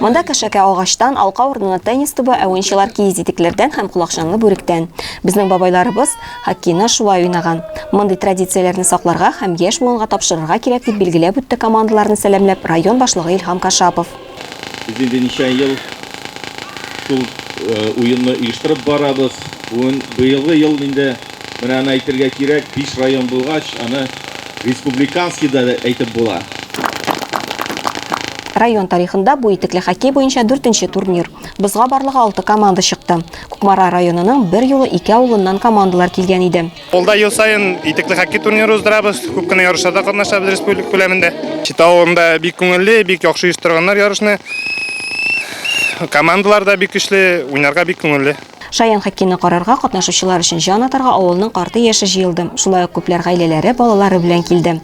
Монда кәшәкә агачтан, алка урынына теннис тубы, ә уенчылар киез итекләрдән һәм колакчанлы бүректән. Безнең бабайларыбыз хоккейны шулай уйнаган. Мондый традицияләрне сакларга һәм яшь буынга тапшырырга кирәк, дип билгеләп үтте командаларны сәламләп район башлыгы Илһам Кашапов. Без инде ничә ел шул уенны оештырып барабыз. Быелгы ел инде Менә аны әйтергә кирәк, биш район булгач, аны республиканский да дип әйтеп була. Район тарихында бу итекле хоккей буенча дүртенче турнир. Бозга барлыгы алты команда чыкты. Кукмара районының бер юлы ике авылыннан командалар килгән иде. Ул да ел саен итекле хоккей турниры уздырабыз, күп кенә ярышларда катнашабыз республика күләмендә. Чита авылында бик күңелле, бик яхшы оештырганнар ярышны. Командалар да бик көчле, уйнарга бик күңелле. Шаян хоккейны карарга, катнашучылар өчен җан атарга авылның карты-яше җыелды, шулай ук күпләр гаиләләре, балалары белән килде.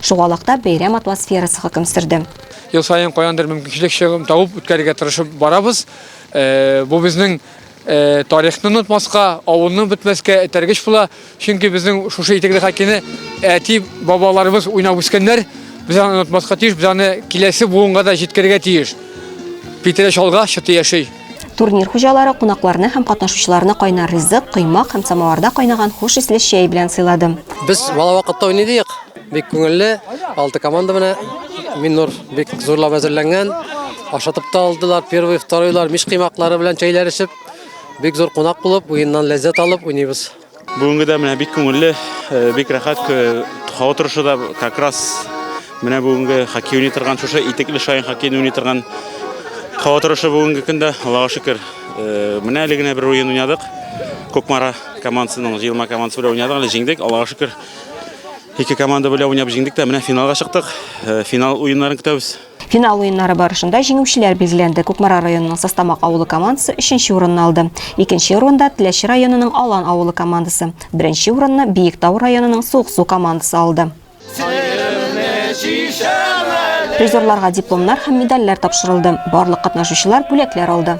Шугалакта бәйрәм атмосферасы хөкем сөрде. Ел саен каяндыр мөмкинчелек чыгымын табып үткәрергә тырышып барабыз. Бу безнең тарихны онытмаска, авылны бетмәскә этәргеч була. Чөнки безнең шушы итекле хоккейны әти, бабаларыбыз уйнап үскәннәр. Без аны онытмаска тиеш, без аны киләсе буынга да җиткерергә тиеш. Питере чалга, чыты яши. Турнир хуҗалары кунакларны һәм катнашучыларны кайнар ризык, коймак һәм самоварда кайнаган хуш исле чәй белән сыйлады. Без бала вакытта уйныйдык. Бик күңелле. Алты команда менә Миннур бик зурлап әзерләнгән. Ашатып та алдылар, первый, второйлар, мич кыймаклары белән чәйләр эчеп. Бик зур кунак булып, уеннан ләззәт алып уйныйбыз. Бүгенге дә менә бик күңелле, э, бик рәхәт э, һава торышы да как раз менә бүгенге хоккей уйный торган шушы итекле шаян хоккейны уйный торган һава торышы бүгенге көндә, Аллага шөкер. Э, менә әле генә бер уен уйнадык. Кукмара командасының җыелма командасы белән уйнадык, әле җиңдек. Аллага шөкер. Ике команда белән уйнап җиңдек тә, менә финалга чыктык. Финал уеннарын көтәбез. Финал уеннары барышында җиңүчеләр билгеләнде. Кукмара районының Састамак авылы командасы өченче урынны алды. Икенче урында Теләче районының Алан авылы командасы, беренче урынны Биектау районының Суыксу командасы алды. Призерларга дипломнар һәм медальләр тапшырылды. Барлык катнашучылар бүләкләр алды.